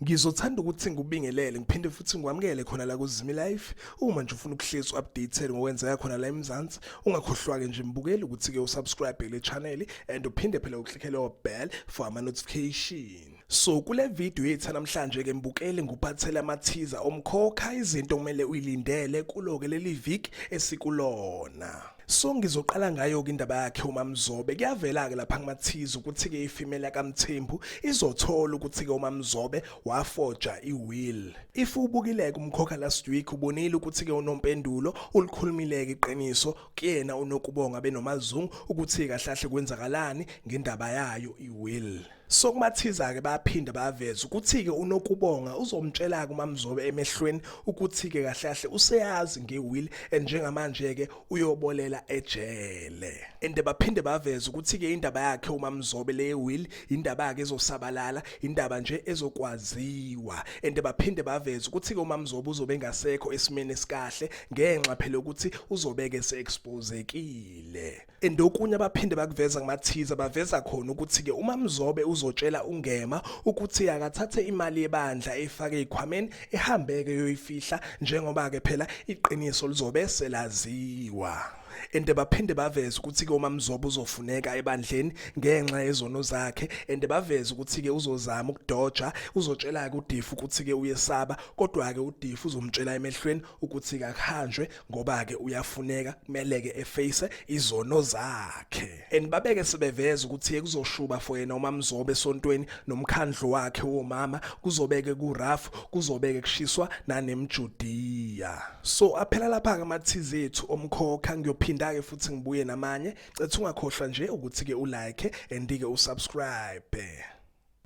Ngizothanda ukuthi ngikubingelele ngiphinde futhi ngikwamukele khona la kuZimi Life. Uma nje ufuna ukuhlezi updated ngokwenzeka khona la eMzansi, ungakhohlwa-ke nje mbukeli ukuthi-ke usubscribe le channel and uphinde phela uklickele o-bell for ama-notification. So kule video yethu namhlanje ke mbukeli nguphathele amathiza omkhokha izinto kumele uyilindele kuloke leli week esikulona. So ngizoqala ngayo ke indaba yakhe uMamzobe kuyavela ke lapha kumathiza ukuthi ke ifimela kaMthembu izothola ukuthi ke uMamzobe wafoja iwill. If ubukile kumkhokha last week ubonile ukuthi ke unompendulo ulikhulumileke iqiniso kuyena unokubonga benomazungu ukuthi kahlahle kwenzakalani ngendaba yayo iwill. Sokumathiza-ke bayaphinde baveze ukuthi-ke uNokubonga uzomtshela-ke uMamzobe emehlweni ukuthi-ke kahle kahle useyazi nge-will and njengamanje-ke uyobolela ejele. And baphinde baveze ukuthi-ke indaba yakhe uMamzobe le will indaba yakhe ezosabalala, indaba nje ezokwaziwa. And baphinde baveze ukuthi-ke uMamzobe uzobe engasekho esimeni esikahle ngenxa phela ukuthi uzobeke se-expozekile. and okunye abaphinde bakuveza kumathiza baveza khona ukuthi ke uma mzobe uzotshela ungema ukuthi akathathe imali yebandla efake ikhwameni ehambeke yoyifihla njengoba ke phela iqiniso lizobe selaziwa and baphinde baveze ukuthi ke uma mzobo uzofuneka ebandleni ngenxa yezono zakhe and baveze ukuthi ke uzozama ukudoja uzotshela ke udifu ukuthi ke uyesaba kodwa ke udifu uzomtshela emehlweni ukuthi kakuhanjwe ngoba ke uyafuneka kumele ke eface izono zakhe and babeke sebeveza ukuthi kuzoshuba for yena uma mzobe sontweni nomkhandlo wakhe womama kuzobeke ku rough kuzobeke kushiswa nanemjudiya so aphela lapha ke amathize ethu omkhokha ngiyophinda ke futhi ngibuye namanye cethu ungakhohlwa nje ukuthi ke ulike and ke usubscribe